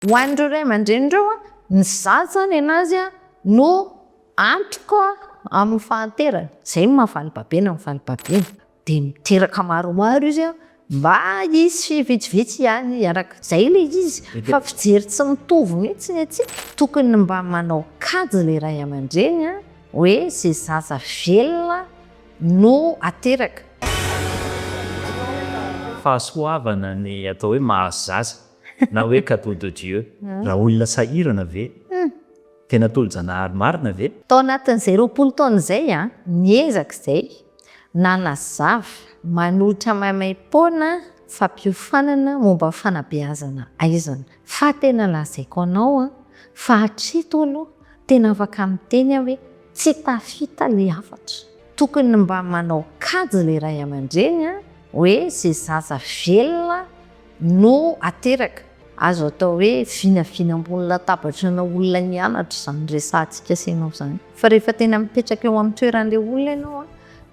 Ho an'ireo ray aman-dreny ireo, ny zaza ny an'azy no antoka amin'ny fahanterany. Izay no maha valibabena an'i valibabena. Dia miteraka maromaro izy mba hisy vitsivitsy ihany hiaraka. Izay ilay izy. Fa fijery tsy mitovy mihitsy ny antsika. Tokony mba manao kajy ilay ray aman-dreny hoe izay zaza velona no ateraka. Fahasoavana ny atao hoe mahazaza. na hoe cadeau de Dieu. Raha olona sahirana ve? Tena tolo-janahary marina ve? Tao anatin'izay roapolo taona izay aho niezaka izay nanazava manolotra maimaim-poana fampiofanana momba ny fanabeazana aizana. Fa tena lazaiko anao fa hatreto aloha tena afaka miteny aho hoe tsy tafita ilay hafatra. Tokony mba manao kajy ilay ray aman-dreny hoe izay zaza velona no ateraka. Azo atao hoe vinavina ambony latabatra ana olona nianatra izany resahantsika sy ianao izany. Fa rehefa tena mipetraka eo amin'ny toeran'ilay olona ianao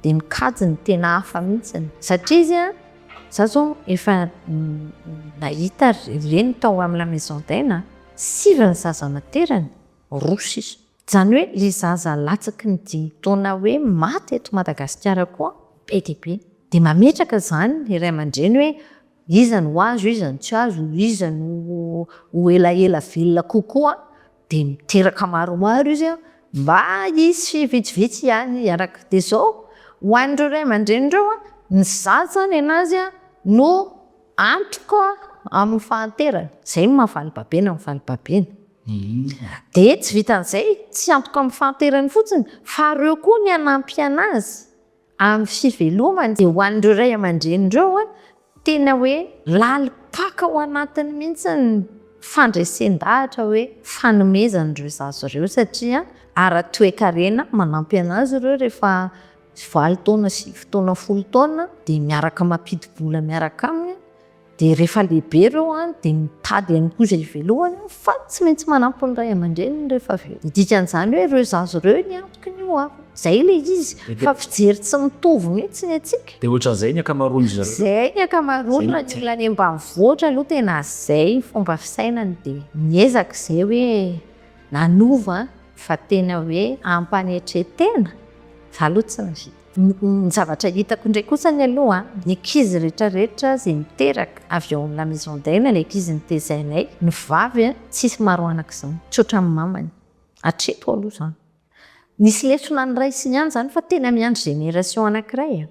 dia mikajy ny tena hafa mihitsy. Satria izy an, za zao efa nahita reny tao amin'ny la maison d'aine an, sivy ny zaza naterany, roa sisa. Izany hoe ilay zaza latsaky ny dimy taona hoe maty eto Madagasikara koa be dia be. Dia mametraka izany ny ray aman-dreny hoe iza no azo, iza no tsy azo, iza no ho elaela velona kokoa. Dia miteraka maromaro izy mba hisy vitsivitsy ihany hiaraka. Dia izao, ho an'ireo ray aman-dreny ireo, ny zaza ny an'azy no antoka amin'ny fahanterany. Izay no maha valibabena ny valibabena. Dia tsy vitan'izay, tsy antoka amin'ny fahanterany fotsiny fa reo koa ny hanampy anazy amin'ny fivelomany. Dia ho an'ireo ray aman-dreny ireo, tena hoe lalim-paka ao anatiny mihitsy ny fandresen-dahatra hoe fanomezana ireo zaza ireo satria ara-toekarena manampy anazy ireo rehefa valo taona, sivy taona, folo taona dia miaraka mampidi-bola miaraka aminy. Dia rehefa lehibe ireo dia mitady ihany koa izay hivelohany eo fa tsy maintsy manampy ny ray aman-dreniny rehefa avy eo. Ny dikan'izany hoe ireo zaza ireo ny antoky ny ho aviny. Izay ilay izy fa fijery tsy mitovy mihitsy ny antsika. Dia ohatran'izay ny ankamaroan-dry zareo. Izay ny ankamaroany raha ny olona any ambanivohitra aloha tena izay ny fomba fisainany dia miezaka izay hoe nanova fa tena hoe ampanetretena fa aloha tsy ny vita. Ny zavatra hitako indray kosa ny aloha an, ny ankizy rehetra rehetra izay miteraka avy ao amin'ny la maison d'aile ilay ankizy notezainay, ny vavy an, tsisy maro anaka izany, tsy ohatran'ny mamany, hatreto aloha izany. Nisy lesona ny ray sy ny any izany fa tena miandry génération anankiray an.